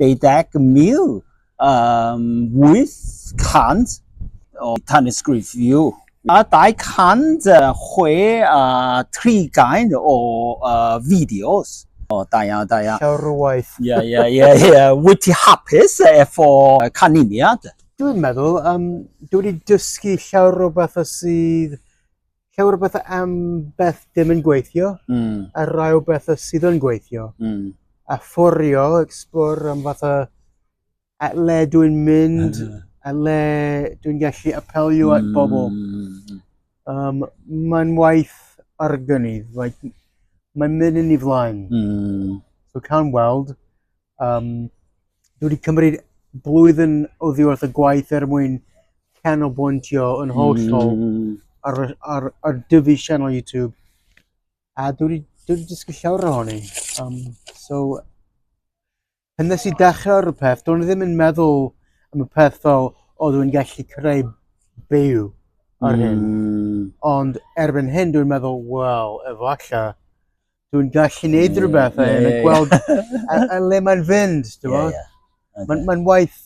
23800 o tanysgrifio a 263 gain o uh, fideos. O, da iawn, da iawn. Llawrwaith. Ie, ie, ie, ie. Wyt ti hapus efo canlyniad? Dwi'n meddwl, um, dwi wedi dysgu llawr o bethau sydd llawer o bethau am beth dim yn gweithio mm. a rai o bethau sydd yn gweithio. Mm. A fforio, explore am fath o a le dwi'n mynd, a le dwi'n gallu apelio mm. at hmm. bobl. Um, mae'n waith argynydd, like, mae'n mynd yn ei flaen. Mm. So cawn weld, Um, dwi wedi cymryd blwyddyn o ddiwedd y gwaith er mwyn canolbwyntio yn hollol mm. ar, ar, ar, ar dyfu sianel YouTube. A dwi wedi, dwi wedi dysgu llawer ohoni. Um, so, pan nes i dechrau ar y peth, dwi'n ddim yn meddwl am y peth fel, o dwi'n gallu creu byw ar hyn. Mm. Ond erbyn hyn dwi'n meddwl, wel, efallai, Dwi'n gallu neud rhywbeth a yeah, gweld a, a le mae'n fynd, dwi'n yeah, yeah. okay. Mae'n ma waith...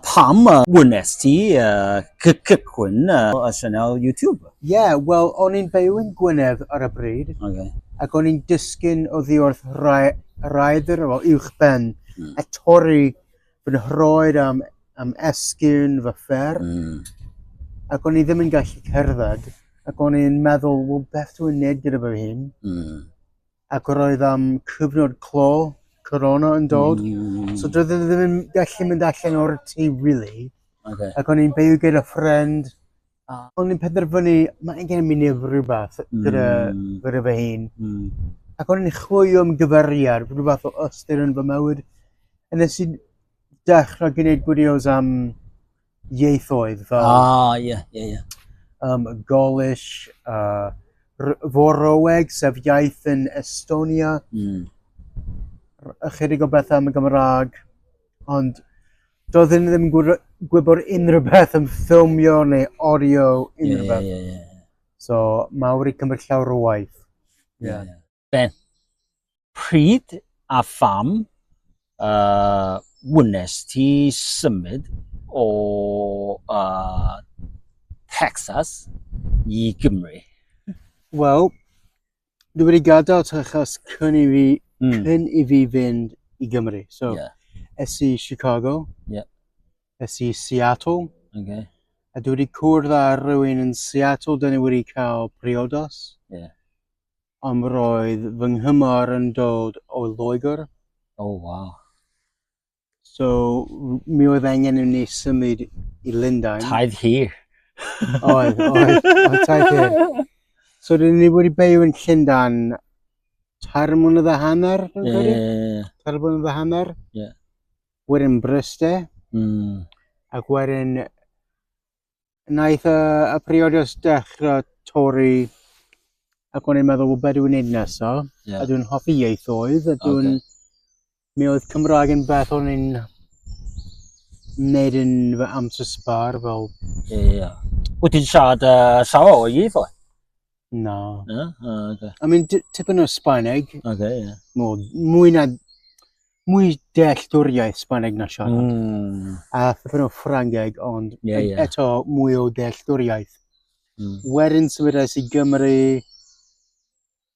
Pam uh, wnes ti uh, cychwyn uh, y sianel YouTube? Ie, yeah, wel, o'n i'n byw yn Gwynedd ar y bryd, okay. ac o'n i'n dysgu'n o ddiwrth rhaid yr efo uwch ben, mm. a torri fy nhroed am, am esgyn fy ffer. Mm. Ac o'n i ddim yn gallu cerdded. Ac o'n i'n meddwl, wel, beth dwi'n neud gyda fy hun? Mm. Ac roedd am cyfnod clo, corona yn dod. Mm. So doedd e ddim yn gallu mynd allan o'r tŷ, really. Okay. Ac o'n i'n byw gyda ffrind A o'n i'n penderfynu, mae gen i nef rhywbeth gyda, mm. gyda fy hun. Mm. Ac o'n i'n chwilio am gyferiad, rhywbeth o ystyr yn fy mywyd. A nes i dechrau gwneud gwideos am ieithoedd fel... Ah, ie, yeah, ie, yeah, ie. Yeah. Um, Golish, uh, Foroeg, sef iaith yn Estonia. Mm. Ychydig o bethau am y Gymraeg. Ond Doeddwn i ddim yn gwr- gwybod unrhyw beth am ffilmio neu audio Ie, unrhyw ie, beth. ie, ie. So, mae wedi cymryd llawer o waith. Ie. Yeah. ie. Ben, pryd a pham uh, wnes ti symud o uh, Texas i Gymru? Wel, Dwi wedi gadael ta achos cyn i fi, mm. cyn i fi fynd i Gymru. So, yeah. es i Chicago, yeah. es i Seattle, okay. a dwi wedi cwrdd â rhywun yn Seattle, dyn ni wedi cael priodos. Yeah. Ond roedd fy nghymor yn dod o Loegr. Oh, wow. So, mi oedd angen i ni symud i Lundain. Taith hir. Oedd, oedd, oedd taith hir. So, dyn ni wedi byw yn Llundain tair mlynedd a hanner, dwi'n yeah, credu? Yeah, yeah. Tair mlynedd a hanner. Yeah. Wedyn Bryste. Mm. Ac wedyn Wnaeth y, y periodus dechrau torri ac o'n i'n meddwl, wel, beth dwi'n gwneud nesaf? Yeah. A dwi'n hoffi ieithoedd, a dwi'n... Okay. Mi oedd Cymraeg yn beth o'n i'n wneud yn fy amser sbar, fel... Ie, yeah, ie. Yeah. Wyt ti'n siarad uh, sawl o ieithoedd? Na. Na? O, oce. I mean, di- tipyn o Spaneg, Oce, ie. mo, mwy na... Mwy dealltwriaeth Spaneg na siarad. Mm. A tipyn o Ffrangeg, ond Ie, e- ie. eto mwy o dealltwriaeth. Mm. Wedyn symudais i Gymru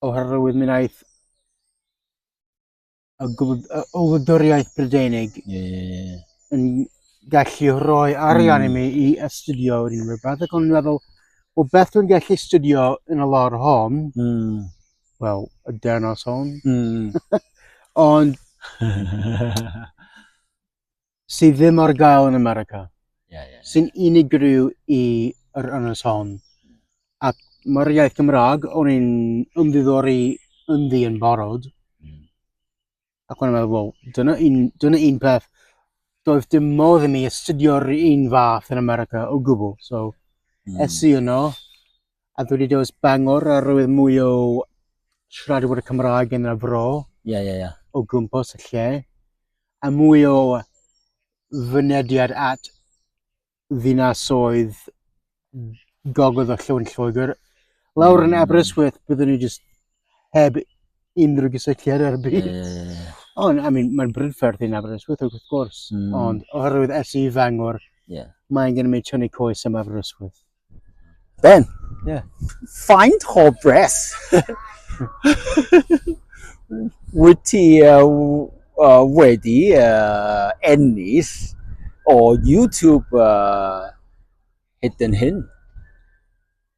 oherwydd mi wnaeth y gwladwriaeth Brydeinig yeah. yn gallu rhoi arian mm. i mi i astudio yr unrhyw beth, ac o'n meddwl, o beth dwi'n gallu astudio yn y lor hon, mm. wel, y denos hon. Mm. Ond, sydd ddim ar gael yn America. Yeah, yeah, yeah. Sy'n unigryw i yr ynys hon. Ac mae'r iaith Gymraeg, o'n i'n ymddiddori ynddi yn barod. Mm. Ac o'n i'n meddwl, well, dyna un, dyna un peth. Doedd dim modd i mi astudio'r un fath yn America o gwbl. So, mm. es i yno, A dwi wedi dewis Bangor a roedd mwy o siaradwyr Cymraeg yn y fro. Ie, ie, ie. O gwmpas y lle. A mwy o fynediad at ddinasoedd gogledd o Llywn Lloegr. Lawr yn mm. Aberystwyth, byddwn ni jyst heb unrhyw gysylltiad ar y byd. Yeah, yeah, yeah, yeah. Ond, I mean, mae'n brydferth i'n Aberystwyth, wrth gwrs. Mm. Ond, oherwydd es i fangor, yeah. mae'n gen i mi tynnu coes am Aberystwyth. Ben? Yeah. Faint o bres? Wyt ti uh, uh, wedi uh, ennill o YouTube uh, hyd yn hyn?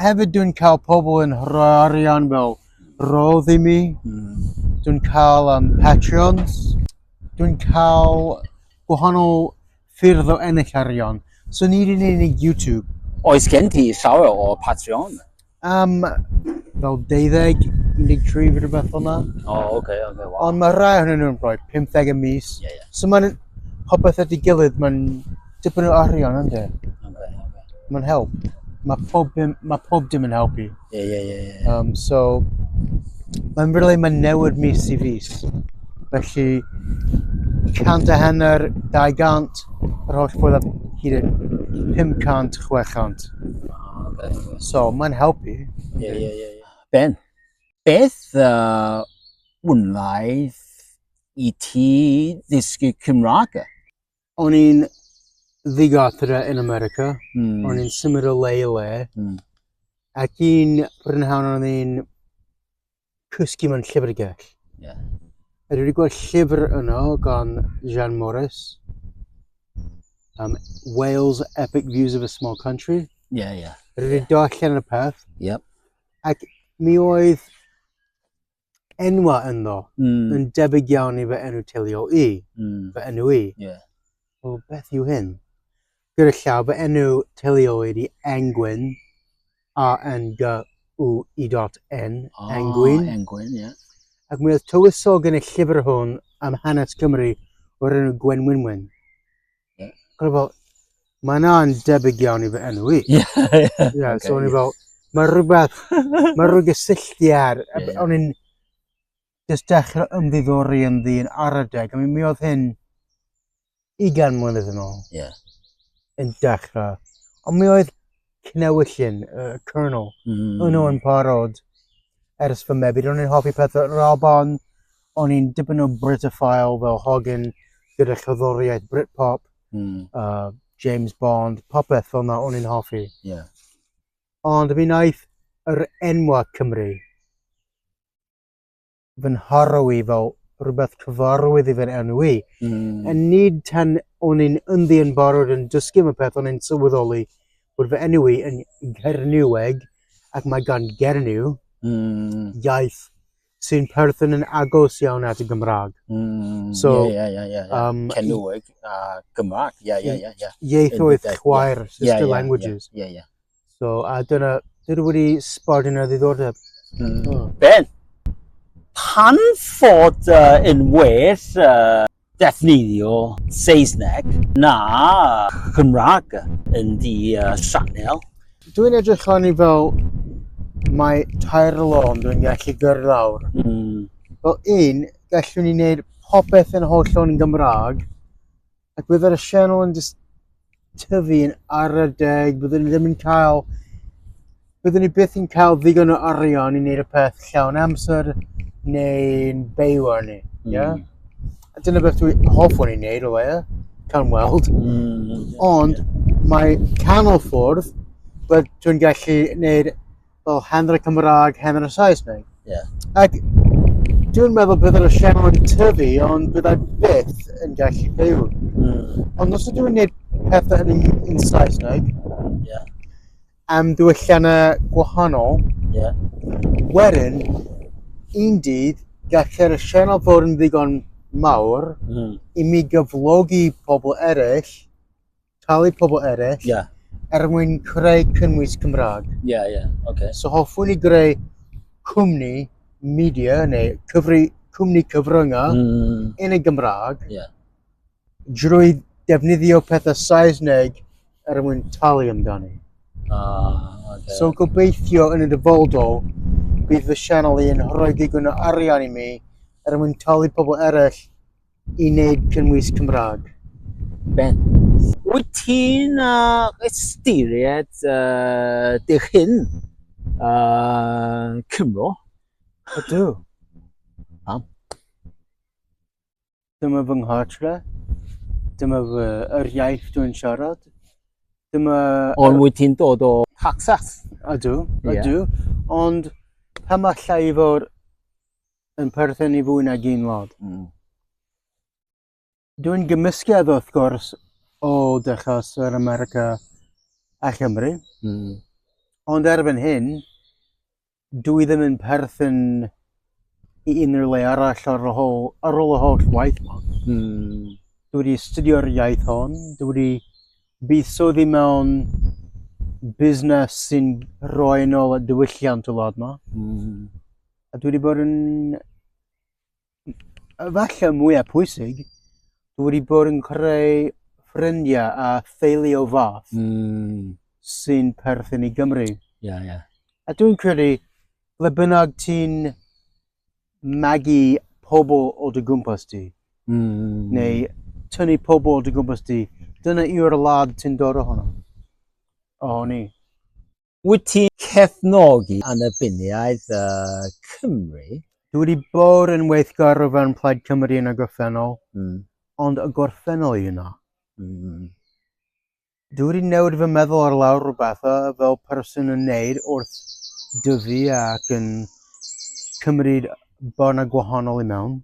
hefyd dwi'n cael pobl yn rhoi arian fel rodd i mi. Mm. Dwi'n cael um, Patreons. Dwi'n cael gwahanol ffyrdd o ennill arian. So nid yn unig YouTube. Oes gen ti llawer o Patreon? Um, fel 12, 13 fi rhywbeth hwnna. O, oh, oce, okay, oce, okay, wow. Ond mae rhai hwnnw nhw'n rhoi 50 y mis. Yeah, yeah. So mae'n popeth ydy gilydd, mae'n Tipyn o arian, ynddo? Mae'n help. Mae pob, dim, mae pob dim yn helpu. Ie, ie, ie. ie. Um, so, mae'n really mae'n newid mis i fis. Felly, 100 a hanner, 200, yr holl ffordd a hyd yn 500, 600. So, mae'n helpu. Ie, ie, ie. ie. Ben, beth uh, wnaeth i ti ddysgu Cymraeg? o'n i'n ddigartre yn America. Mm. O'n i'n symud o le i le. Mm. Ac un prynhawn o'n i'n cysgu mewn llyfrgell. Yeah. A dwi wedi gweld llyfr yno gan Jean Morris. Um, Wales Epic Views of a Small Country. Ie, yeah, ie. Yeah. Dwi wedi yeah. darllen y peth. Yep. Ac mi oedd enwa ynddo. Mm. Yn debyg iawn i fy enw teuluol i. Mm. Fy enw i. Yeah. O, beth yw hyn? Gyda llaw, fy enw teuluol i di Engwyn. A-N-G-W-I-N. Oh, Engwyn. Engwyn, ie. Yeah. Ac mi oedd tywysog yn y llyfr hwn am hanes Cymru o'r enw Gwenwynwyn. Ie. O'n i fel, mae yna'n debyg iawn i fy enw i. Ie. Ie, so o'n i fel, mae rhywbeth, mae rhyw gysylltiad. Ie, ie. O'n i'n just dechrau ymddiddori yn ddyn ar y deg. I mean, mi oedd hyn ugain mlynedd yn ôl Ie. yn dechrau. Ond mi oedd cnewyllyn, uh, kernel, mm. yno yn parod ers fy mebyd. O'n i'n hoffi pethau Raban, o'n i'n dipyn o Britophile fel Hogan gyda chyddoriaeth Britpop, mm. uh, James Bond, popeth fel yna o'n i'n hoffi. Yeah. Ond mi wnaeth yr enwa Cymru fy nharo i fel rhywbeth cyfarwydd i fe'n enw i. Mm. A nid tan o'n i'n ynddi yn barod yn dysgu am y peth o'n i'n sylweddoli bod fy enw i yn Gerniweg ac mae gan Gerniw mm. iaith sy'n perthyn yn agos iawn at y Gymraeg. Mm, so, ie, ie, ie, ie. Um, Cenweg a Gymraeg, ie, ie, ie. Ieithoedd chwaer, sister yeah, yeah, languages. Ie, yeah, ie. Yeah, yeah. So, a dyna, dydw wedi sbord yna ddiddordeb. Mm. Oh. Ben, pan fod uh, yn well uh, defnyddio Saesneg na Cymraeg yn di uh, sianel? Dwi'n edrych lan i fel mae tair lôn dwi'n gallu gyrlawr. Mm. Fel un, gallwn ni wneud popeth yn holl o'n Gymraeg, Ac byddai'r channel yn just tyfu yn ar y deg, byddwn ni ddim yn cael, byddwn ni byth yn cael ddigon o arian i wneud y peth llawn amser neu'n byw ar ni. Mm. Yeah? A dyna beth dwi hoffwn i wneud o leia, can weld. Mm. Ond yeah. mae canol ffwrdd, bydd dwi'n gallu wneud fel hanner Cymraeg, hanner Saesneg. Yeah. Ac dwi'n meddwl bydd yr sianel yn tyfu, ond byddai byth yn gallu byw. Mm. Ond os ydw i'n gwneud pethau yn, yn Saesneg, yeah. am diwylliannau gwahanol, yeah. wedyn, un dydd, gallai'r sianel fod yn ddigon mawr mm. i mi gyflogi pobl eraill talu pobl eraill yeah. er mwyn creu cynnwys Cymraeg. Ie, yeah, ie, yeah. okay. So hoffwn i greu cwmni media neu cyfri, cwmni cyfryngau mm. yn y Gymraeg yeah. drwy defnyddio pethau Saesneg er mwyn talu amdani. Ah, okay. So gobeithio yn y dyfodol bydd fy sianel i'n rhoi digon o arian i mi er mwyn talu pobl eraill i wneud cynnwys Cymraeg. Beth. Wyt ti'n uh, ystyried uh, dy hun uh, Cymro? Ydw. Pam? Dyma fy nghartre. Dyma fy yr iaith dwi'n siarad. Dyma... Ond wyt ti'n dod o Texas? Ydw, ydw. Yeah. Ond pam allai i fod yn perthyn i fwy nag un lod. Mm. Dwi'n gymysgedd wrth gwrs o dechos yr America a Chymru. Mm. Ond erbyn hyn, dwi ddim yn perthyn i unrhyw le arall ar ôl, hol, ar ôl y holl waith ma. Mm. Dwi wedi studio'r iaith hon, dwi wedi buddsoddi mewn busnes sy'n rhoi yn ôl y diwylliant y wlad ma. Mm. A dwi wedi bod yn... Falle mwyaf pwysig, dwi wedi bod yn creu ffrindiau a theulu o fath mm. sy'n perthyn i Gymru. Yeah, yeah. A dwi'n credu, ble bynnag ti'n magu pobl o dy gwmpas ti, mm. neu tynnu pobl o dy gwmpas ti, dyna yw'r lad ti'n dod ohono. Ohoni. Wyt ti'n cefnogi annibyniaeth y Cymru? Dwi wedi bod yn weithgar o fewn Plaid Cymru yn y gorffennol, mm. ond y gorffennol i yna. Mm. Dwi wedi newid fy meddwl ar lawr rhywbeth o fel person yn neud wrth dyfu ac yn cymryd bod yna gwahanol i mewn.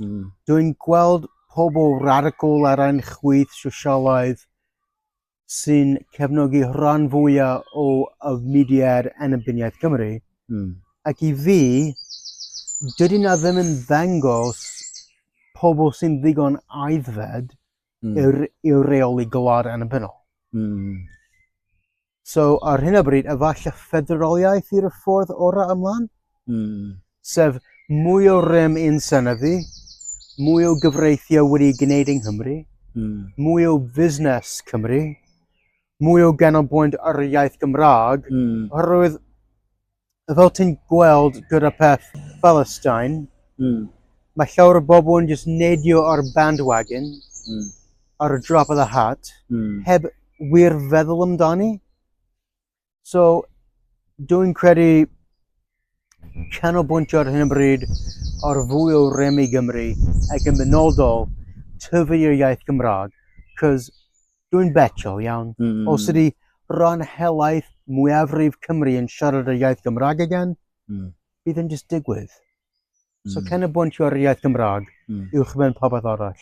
Mm. Dwi'n gweld pobl radical ar ein chwyth sosialaidd sy'n cefnogi rhan fwyaf o y mudiad annibyniaeth Cymru. Mm. Ac i fi, dydy na ddim yn ddangos pobl sy'n ddigon aeddfed mm. i'r, i'r reoli gwlad annibynnol. Mm. So, ar hyn o bryd, efallai ffederoliaeth i'r ffordd orau ymlaen. Mm. sef mwy o rym i'n synyddu, mwy o gyfreithiau wedi gwneud yng Nghymru, mm. mwy o fusnes Cymru, mwy o ganolbwynt ar y iaith Gymraeg, mm. oherwydd fel ti'n gweld gyda peth Palestine, mm. mae llawer o bobl yn just neidio ar bandwagon, mm. ar y drop of the hat, mm. heb wir feddwl amdani. So, dwi'n credu canolbwyntio ar hyn o bryd ar fwy o rem i Gymru ac yn benodol tyfu i'r iaith Gymraeg, cos dwi'n betio iawn. Mm. Os ydy rhan helaeth mwyafrif Cymru yn siarad y iaith Gymraeg again, mm. bydd yn just digwydd. Mm. So canolbwyntio ar y iaith Gymraeg mm. uwch ben popeth arall.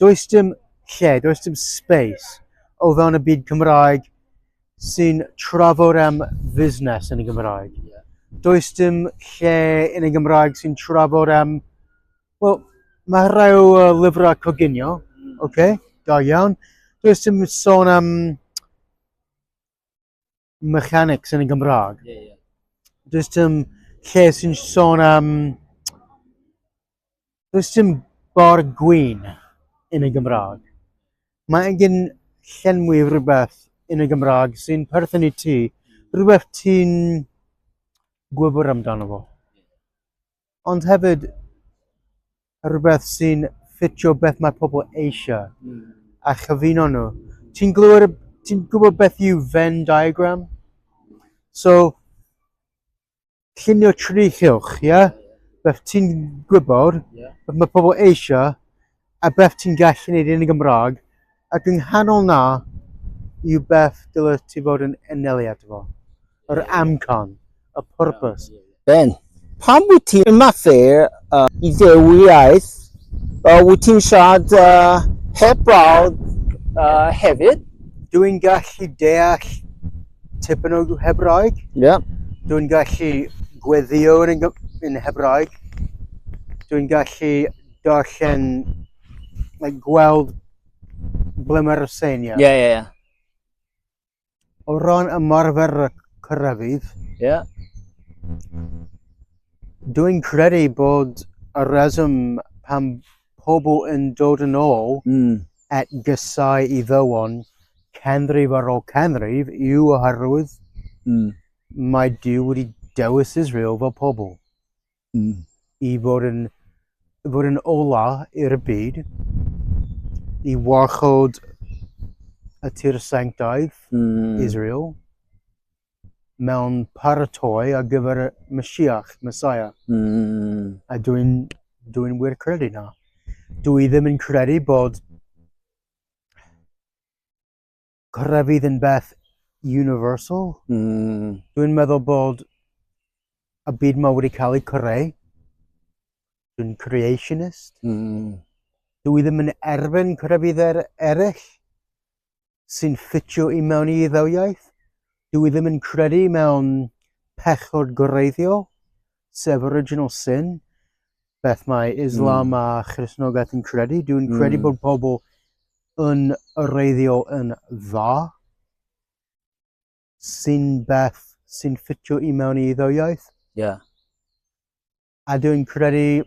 does dim lle, does dim space o fewn y byd Cymraeg sy'n trafod am fusnes yn y Gymraeg. Yeah. Does dim lle yn y Gymraeg sy'n trafod am... Wel, mae rhai o uh, lyfrau coginio, mm. okay, da iawn. Does dim sôn am mechanics yn y Gymraeg. Ie, ie. Does dim lle sy'n sôn am... Does dim bor gwyn yn y Gymraeg. Mae angen llenwi rhywbeth yn y Gymraeg sy'n perthyn i ti, rhywbeth ti'n gwybod amdano fo. Ond hefyd, rhywbeth sy'n ffitio beth mae pobl eisiau mm. a chyfuno nhw. Ti'n glywed, ti'n gwybod beth yw Venn diagram? So, llunio tri chylch, ie? Yeah? Beth ti'n gwybod, yeah. beth mae pobl eisiau, A beth ti'n gallu neud yn y Gymraeg ac yng nghanol 'na yw beth dylet ti fod yn enelliad fo. Yr amcan. Y pwrpas. Ben, pam wyt ti'n ymarfer i ddewr iaith? Wyt ti'n siarad heb brawd hefyd? Dw i'n gallu deall tipyn o Hebraeg. Ie. Dw i'n gallu gweddïo yn Hebraeg. Dw i'n gallu darllen, like, gweld ble mae'r ryseinio. Ie, ie, ie. O ran ymarfer y cyrraedd, Ie. dwi'n credu bod y reswm pan pobl yn dod yn ôl Mm. at gysau i ddywon canrif ar ôl canrif yw oherwydd Mm. mae Duw wedi dewis Israel fel pobl. Mm. I fod yn, fod yn ola i'r byd, i warchod y tir sanctaidd, mm. Israel, mewn paratoi ar gyfer y Mashiach, Messiah. Mm. A dwi'n dwi wir credu na. Dwi ddim yn credu bod grefydd yn beth universal. Mm. Dwi'n meddwl bod y byd ma wedi cael ei creu. Dwi'n creationist. Mm. Dwi ddim yn erfyn crefydd er, eraill sy'n ffitio i mewn i ddewyaeth. Dwi ddim yn credu mewn pechod gwreiddiol, sef original sin. beth mae Islam mm. a Christnogaeth yn credu. Dwi'n mm. credu bod pobl yn reiddio yn dda sy'n beth sy'n ffitio i mewn i iddo iaith. Yeah. A dwi'n credu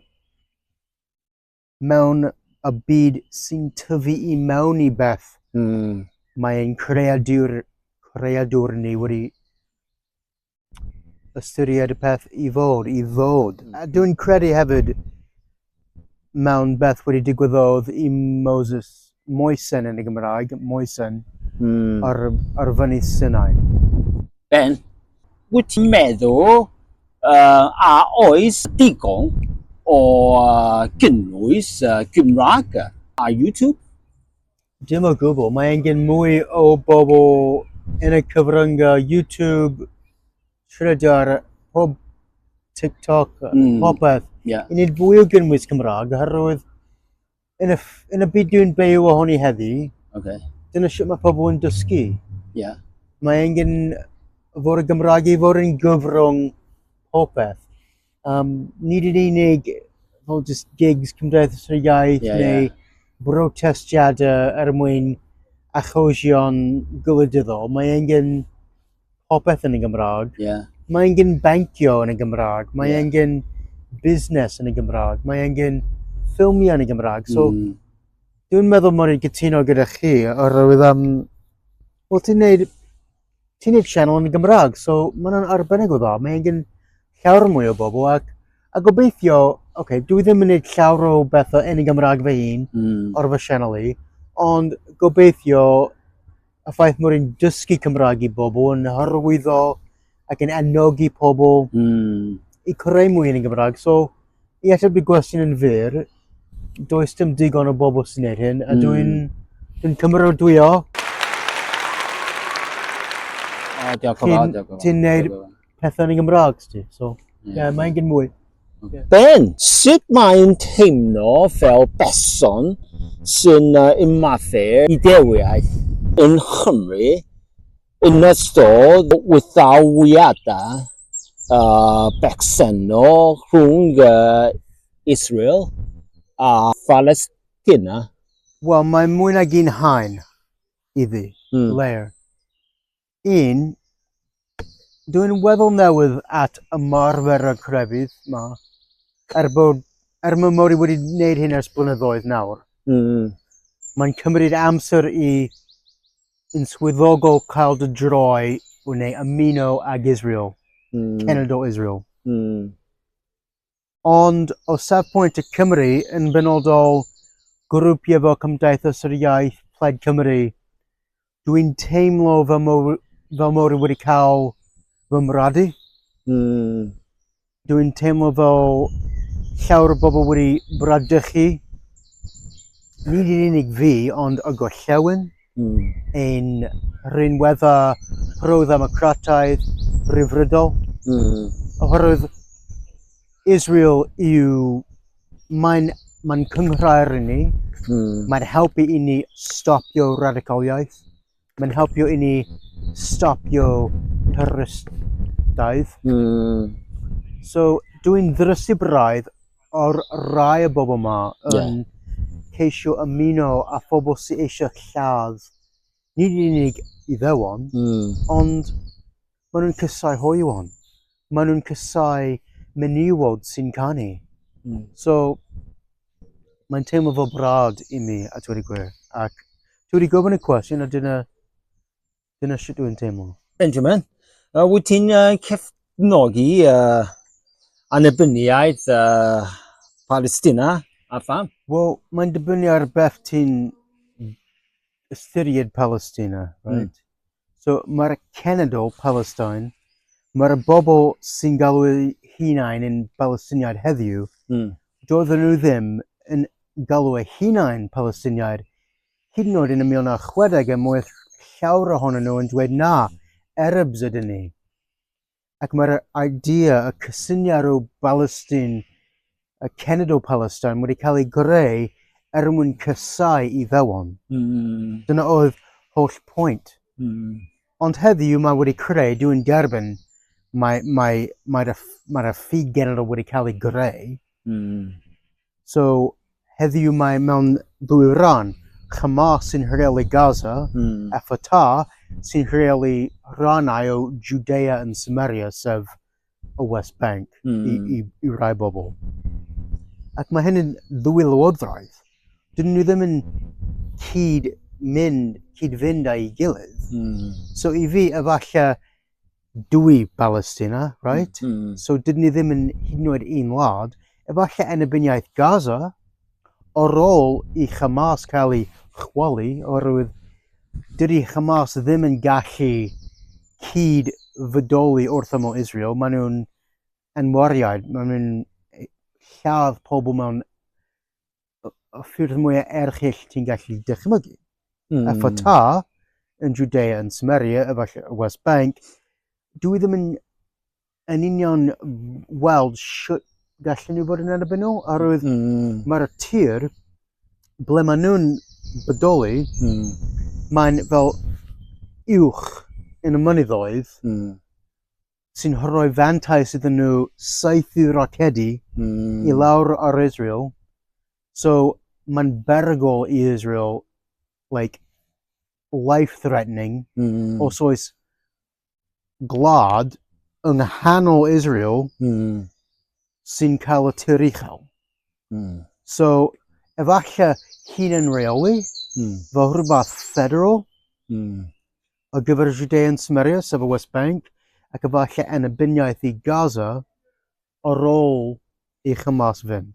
mewn y byd sy'n tyfu i mewn i beth. Mm. Mae'n creadur, creadur ni wedi ystyried y peth i fod, i ddod. A dwi'n credu hefyd mewn beth wedi digwyddodd i Moses Moesen yn y Gymraeg, Moesen, mm. ar, ar fyny Sinai. Ben, wyt ti'n meddwl uh, a oes digon o uh, gynnwys uh, Gymraeg ar YouTube? Dim o gwbl, mae angen mwy o bobl yn y cyfryngau YouTube, Twitter, pob TikTok, mm. popeth. Yeah. I wneud fwy o gynnwys Cymraeg, oherwydd yn y, yn y byd dwi'n byw ohoni heddi, okay. dyna sut mae pobl yn dysgu. Yeah. Mae angen fod y Gymraeg i fod yn gyfrwng popeth. Um, nid yn unig fel just gigs Cymdeithas yr Iaith yeah, neu yeah. brotestiadau er mwyn achosion gwleidyddol. Mae angen popeth yn y Gymraeg. Yeah. Mae angen bancio yn y Gymraeg. Mae yeah. angen busnes yn y Gymraeg. Mae angen ffilmiau yn y Gymraeg. So, mm. dwi'n meddwl mod i'n gytuno gyda chi oherwydd am... Um, Wel, ti'n neud ti'n neud channel yn Gymraeg, so mae hwnna'n arbennig o dda. Mae gen llawr mwy o bobl ac a gobeithio, oce, okay, dwi ddim yn neud llawr o bethau yn y Gymraeg fy hun mm. o'r fy sianel i, ond gobeithio y ffaith mwyn i'n dysgu Cymraeg i bobl yn hyrwyddo ac yn ennog i pobl mm. i creu mwy yn y Gymraeg. So, I ateb dy gwestiwn yn fyr, does dim digon o bobl sy'n gwneud hyn, a dwi'n mm. dwi cymerodwyo. O, diolch o fawr, diolch o fawr. Ti'n gwneud pethau yn y Gymraeg, sti, so, ie, yeah, mae'n gyn mwy. Okay. Ben, sut mae'n teimlo fel person sy'n uh, ymathu i dewiaeth yn Chymru Yn ystod wthauiadau bersennol rhwng Israel a Phalestina, Wel, mae mwy nag un haen iddi, layer. Un, dw i'n weddol newydd at ymarfer y crefydd 'ma, er bod, er mae Mori wedi wneud hyn ers blynyddoedd nawr. Mae'n cymryd amser i yn swyddogol cael dy droi o neu ymuno ag Israel, mm. cenedl Israel. Mm. Ond o safpwynt y Cymru yn benodol grwpiau fel Cymdeithas yr Iaith, Plaid Cymru, dwi'n teimlo fy mor, fy mor wedi cael fy mradu. Mm. Dwi'n teimlo fel llawer o bobl wedi bradychu, nid yn unig fi, ond y gorllewin, mm. yn rhinwedda pro-ddemocrataidd rhyfrydol. Mm. Oherwydd Israel yw, mae'n mae cynghrair i ni, mm. mae'n helpu i ni stopio radicaliaeth. Mae'n helpu i ni stopio twristiaeth. Mm. So, dwi'n ddrysu braidd o'r rai o bobl yma yn yeah. ceisio ymuno a phobl sy'n eisiau lladd nid yn unig Iddewon, mm. ond Maen nhw'n cysau hoywon. Maen nhw'n cysau menywod sy'n canu. Mm. So, mae'n teimlo fo brad i mi, a dweud y gwir. Ac dwi wedi gofyn y cwestiwn, a dyna, dyna sut dwi'n teimlo. Benjamin, uh, wyt ti'n uh, cefnogi uh, annibyniaeth uh, Palestina a pham? Wel, mae'n dibynnu ar beth ti'n ystyried Palestina, hmm. right? Mm. So mae'r cenedl Palestine, mae'r bobl sy'n galw hunain yn Palestiniaid heddiw, mm. doedden nhw ddim yn galw eu hunain Palestiniaid, hyd yn oed yn y 1960 er mwyn llawer ohonyn nhw yn dweud na, Arabs ydyn ni. ac mae'r idea, y cysyniad o Balestine, y cenedl Palestine, wedi cael ei greu er mwyn cysau i ddewon. Mm. Dyna oedd holl pwynt. Mm. Ond heddiw mae wedi creu, dwi'n derbyn, mae'r mae, mae, mae, mae ffug genedl wedi cael ei greu. Mm. So, heddiw mae mewn dwy ran. Hamas sy'n rheoli Gaza mm. a Fatah sy'n rheoli rannau o Judea yn Samaria, sef y West Bank, mm. i, hmm. i, i rai bobl. Ac mae hyn yn ddwy lywodraeth. Dyn nhw ddim yn cyd mynd, cyd fynd â'i gilydd. Mm. So i fi, efallai, dwy Balestina, right? Mm, mm. So dydyn ni ddim yn hyd yn oed un wlad. Efallai enebiniaeth Gaza, o rôl i Hamas cael ei chwalu, oherwydd dydy Hamas ddim yn gallu cyd fydoli wrth ymwyl Israel. Maen nhw'n enwariaid, maen nhw'n lladd pobl mewn o ffyrdd mwyaf erchyll ti'n gallu dychmygu. Mm. A ffota yn Judea, yn Samaria, efallai y West Bank, dwi ddim yn, yn union weld sut gallen nhw fod yn erbyn nhw, a roedd mm. mae'r tir ble maen nhw'n bodoli, mm. mae'n fel uwch yn y mynyddoedd, mm. sy'n rhoi fantais iddyn nhw saethu rocedi mm. i lawr ar Israel. So mae'n berygol i Israel, like, life-threatening, mm. os oes glad yng nghanol Israel mm. sy'n cael y tir uchel. Mm. So, efallai hunan reoli, mm. fel rhywbeth federal, mm. ar gyfer y Judean Samaria, sef y West Bank, ac efallai annibyniaeth i Gaza ar ôl i Hamas fynd.